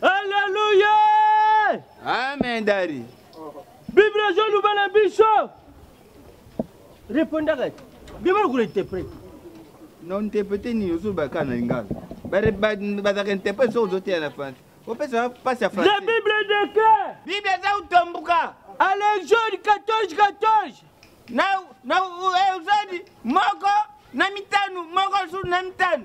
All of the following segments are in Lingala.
Alléluia. Amen dari. Bible ezo loba na biso. Répondaka. Bible ko interprète. Non interprète ni ozo ba kana lingala. Ba ba ba da interprète so ozo tia na français. Opesa pasi ya français. La Bible de que? Bible eza utombuka. Allez Jean 14 14. Na na uzadi eh, moko na mitano moko su na mitano.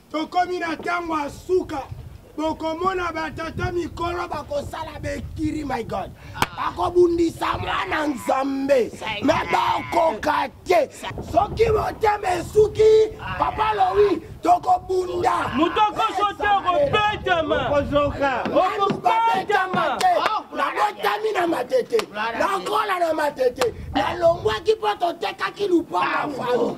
Tokomi na ntango ya suka. bokomona batata mikolo bakosala bekiri my god bakobundisa mwana nzambe me bakoka te soki motema esuki papa lowi tokobunda moto okoso te okobetama okobetama te nabotami na matete nakola na matete nalongwaki mpo totekaki lupango fami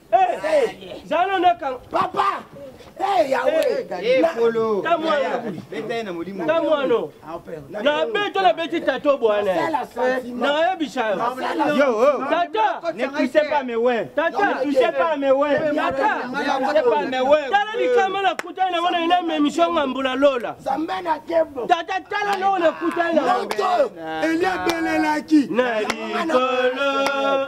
zalo nakanga papa kamwano nabeto nabeti tato bwana nayebisa yo tata tala likama nakutani nango naye na memission nga mbula lola tata tala nao nakutani na eliabelelaki na likolo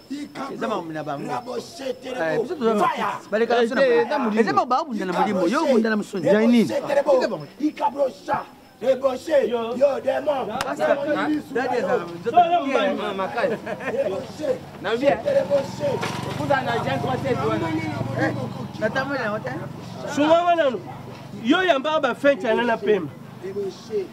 eza makambo na bango eza bango baobunda na molimo yo obunda na mosoni ya nini Débauché, yo, yo démon. Sunga wana yo yamba ba fencha na na pema.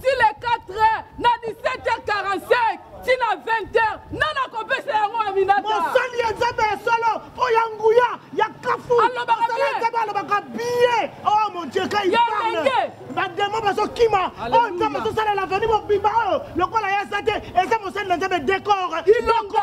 ti le 4 heures na 17h45 ti na 20h na nakopesa yango aminata mosali ya nzambe ya solo mpo ya nguya ya kafu mosali ya nzambe alobaka biye o oh, mon dieu kai bademo bazokima oyo oh, nzambe azosalela veni mobimba oyo oh, lokola ya sa te eza mosali na nzambe dekor ilonga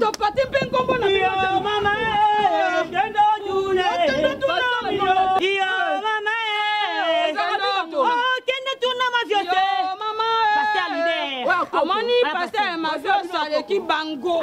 topati mpe nkombo na omoni paster mavios aleki bango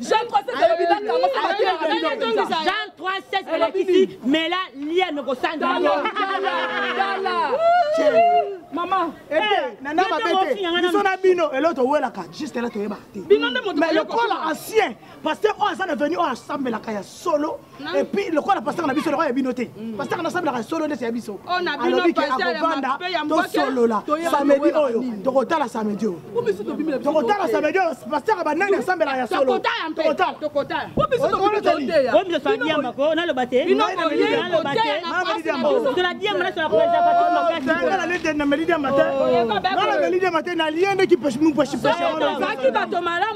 Jean 316 alobi ba kango sa ba tela na ndoki za. Jean 316 elakisi mela lia no ko sanda. Dala dala. Mama, eh, eh nana ba bete. Biso na bino elo to wela ka juste elo to yeba te. Bino nde moto. Mais le col ancien, parce que o azana venu o assemble la ka ya solo. epuis lokola pasaka na biso lokola ya bino te mm. pasaka nasabilaka solo ndeti ya biso oh, alobi ke akobanda tosolola samedi oyo tokotala samedi oyo tokotala samedi oyo pasaka banani asambelaka ya solonaloba te naliyendeki mupeshipesha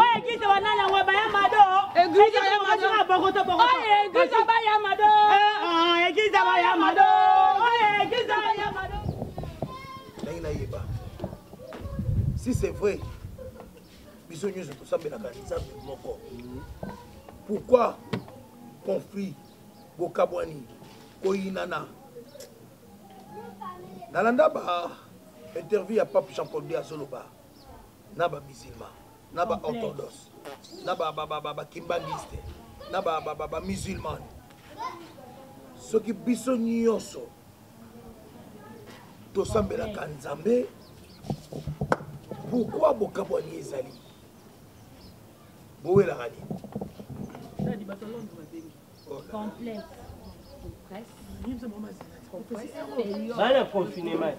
Oye kisa banani yango baya mado. Eglise ya mado. Bokoto bokoto. Oye kisa baya mado. Eh ah, kisa baya mado. Oye kisa baya mado. Ndenge nayeba. Si c'est vrai. Biso nyonso tosambelaka Nzambe moko. Pourquoi conflit bokabwani koyinana nalanda ba interview ya pape jean paul de azoloba na ba musulman na ba orthodoxe na ba ba ba ba kimbanguiste na ba ba ba musulman soki biso nyonso tosambelaka nzambe pourkui bokabwani ezali bowelaka nini bana confinement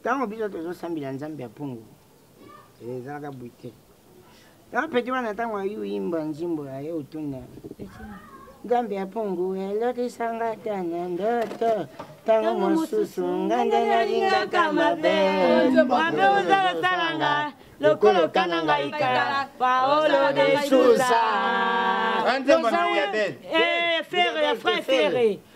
ntango biso tozosambela nzambe ya mpungu ezalaka bwi te yango peti wana ntango ayuimba nzimbo ya ye otuna nzambe ya mpungu elokisa nga ta na ndoto ntango mosusu nga nde nalingaka mabe mabe ozalasala nga lokola okana ngai kala paolo de susa eh, ferre fre ferre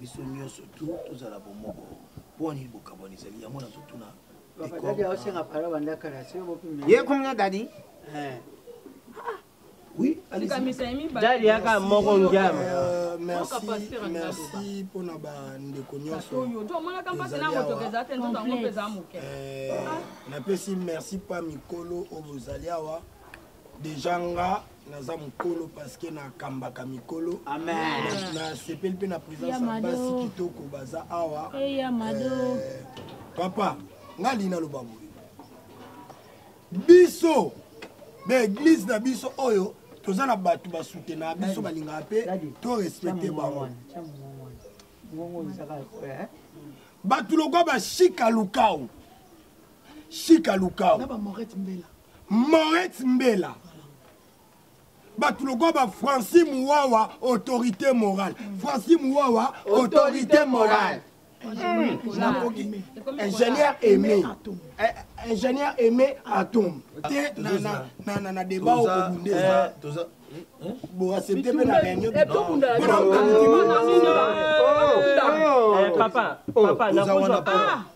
biso nyonso tu tozala bomoko mpo nini bokabwani ezali yango nazotuna ye kumina dadi eh. dadi yaka moko ngiama euh, merci mpona bandeko nyonsonapesi euh, merci mpa mikolo oyo bozali awa deja nga naza mokolo parceke nakambaka mikolo nasepeli mpe na présence ya basi kitoko baza awa eh, eh, papa nga alingi naloba boye biso baeglize na biso oyo toza na bato basutenaka biso balingaka mpe to respecte bango eh? bato lokwa bashika lukau shika lukau Moret Mbela bato lokola ba franci muwawa autorité morale franci muwawa autorité morale ingénieur aimé ingénieur aimé atome te na débat okobunde boaccepte mpe na réunion papa papa nakozwa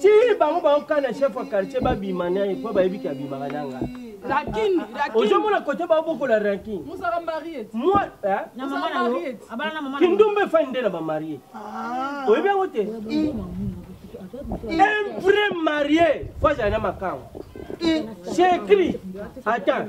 ti bango baoka na chef ya quartier babima naye mpo bayebi ke abimaka na nga ozomona kote baobokola rankin kindumba efai nde na bamarie ah. oyebi yango te un vrai marié fo azala na makango c'est écrit attends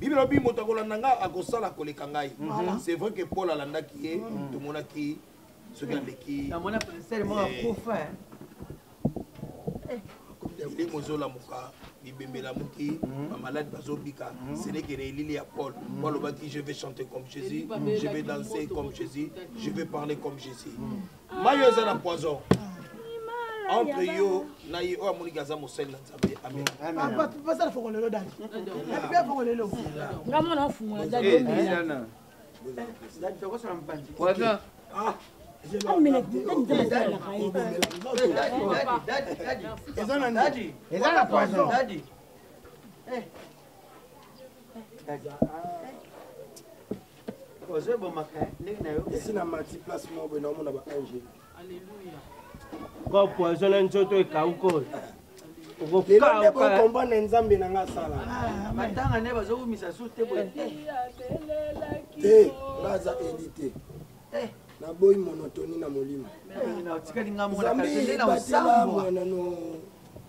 bibi lobi moto akolanda ngai akosala koleka ngai mhm. c'est vrai que paul alandaki ye mhm. tomonaki soki aleki elimo ezolamuka bibembe elamuki bamaladi mhm. bazobika seneke na elili ya paul po alobaki je vais chanter comme jésus je vais danser comme jésus je vais parler comme jésus mayo eza na poison entre yo na ye oyo amoniki aza mosali na nzambe amenpasala foko lelo dali epe foko lelo nga mwana afungola daliomela eza na poison ozo ebomaka ndenge na yo esi na mati place moko boye naomona ba ange alleluia ko poison na nzoto ekauka oyo okokomprendre nzambe na nga asala ah, matanga nde bazokumisa su te boye te nga aza eli te eh. naboyi monotoni na molimo zambe batela mwana no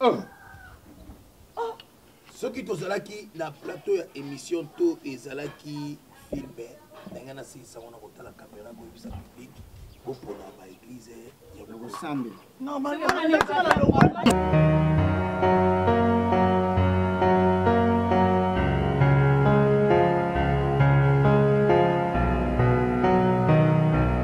Ah. Ah. soki tozalaki na plateau ya émission to ezalaki filme ndenge nasilisa ngo na kotala kamera koyebisa public bopona baeglize ya kosambe